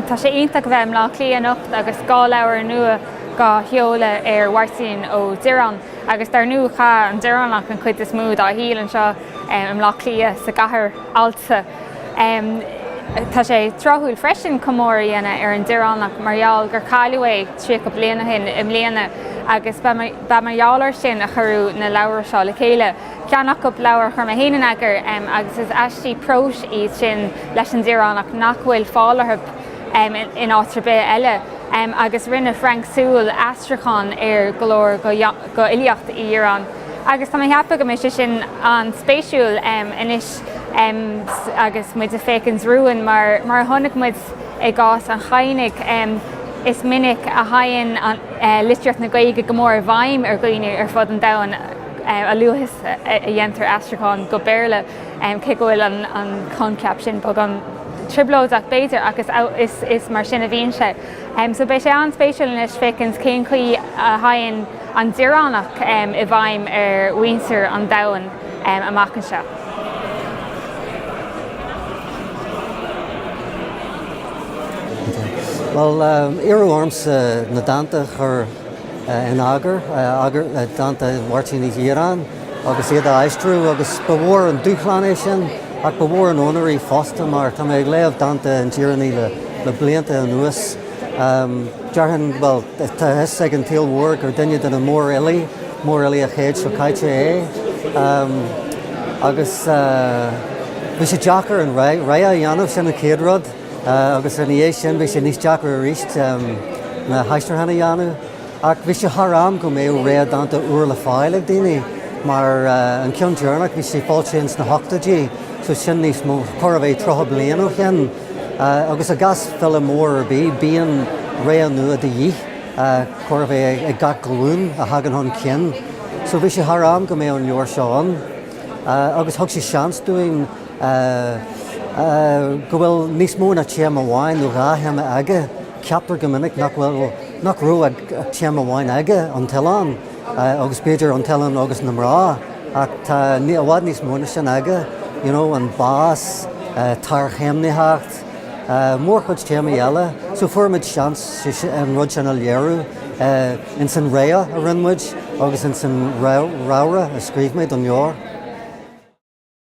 Tá sé iontach a bheith i mBleá Cliath anocht agus dhá leabhar nua dhá sheoladh ar Mháirtín Ó Direáin. Agus dar ndú, chaith an Direánach an chuid is mó dá shaol anseo i mBleá Cliath, sa gcathair allta. Tá sé tráthúil freisin comóradh a dhéanamh ar an Direánach mar gheall gur cailleadh é tríocha bliain ó shin i mbliana agus ba mar gheall air sin a cuireadh na leabhra seo le chéile. Ceann acu, leabhar a chuir mé féin in eagar agus is aistí próis iad sin leis an Direánach nach bhfuil fáil orthu in áit ar bith eile, agus rinne Frank Sewell aistriúchán ar go leor go fhilíocht Uí Dhireáin. Agus tá mé ag ceapadh go mbeidh sé sin an-spéisiúil anois agus muid ag féachaint romhainn, mar a chonaic muid i gcás an Chadhnaigh, is minic a theigheann litríocht na Gaeilge go mór i bhfeidhm ar dhaoine ar fud an domhain a luaithe is a dhéantar aistriúchán go Béarla. cé go bhfuil an coincheap sin beagán trioblóideach, b'fhéidir, agus is mar sin a bhíonn sé. Só, beidh sé an-spéisiúil anois féachaint cén chaoi a theigheann an Direánach i bhfeidhm ar mhuintir an domhain amach anseo. Bhuel, iarradh ormsa na dánta a chur. in eagar, eagar dánta Mháirtín Uí Dhireáin, agus iad á aistriú, agus ba mhór an dúshlán é sin, ach ba mhór an onóir í fosta, mar tá mé ag léamh dánta an Direánaigh le blianta anuas. Déarfainn, bhuel, tá a fhios ag an tsaol mhór gur duine de na mórfhilí, mórfhilí an chéid seo caite é, agus bhí sé deacair an rogha a dhéanamh, sin an chéad rud. Agus ina dhiaidh sin, bhí sé níos deacra arís na haistriúcháin a dhéanamh. Ach bhí sé thar am go mbeadh rogha dánta úr le fáil ag daoine, mar an ceann deireanach, bhí sé foilsithe ins na hochtóidí, so sin níos mó, chóir a bheith tríocha bliain ó shin. Agus i gcás file mór ar bith, bíonn rogha nua de dhíth, chóir a bheith ag gach glúin a thagann chun cinn. So bhí sé thar am go mbeadh an leabhar seo ann. Agus thug sé seans dúinn. go bhfuil níos mó ná téama amháin nó dhá théama aige. Ceaptar go minic nach bhfuil, nach raibh ach téama amháin aige, an t-oileán, agus b'fhéidir an t-oileán agus na mná, ach tá i bhfad níos mó ná sin aige, you know, an bás, tarchéimnitheacht, mórchuid téamaí eile. So fuair muid seans an rud sin a léiriú ins an rogha a rinne muid agus ins an réamhrá a scríobh mé don leabhar.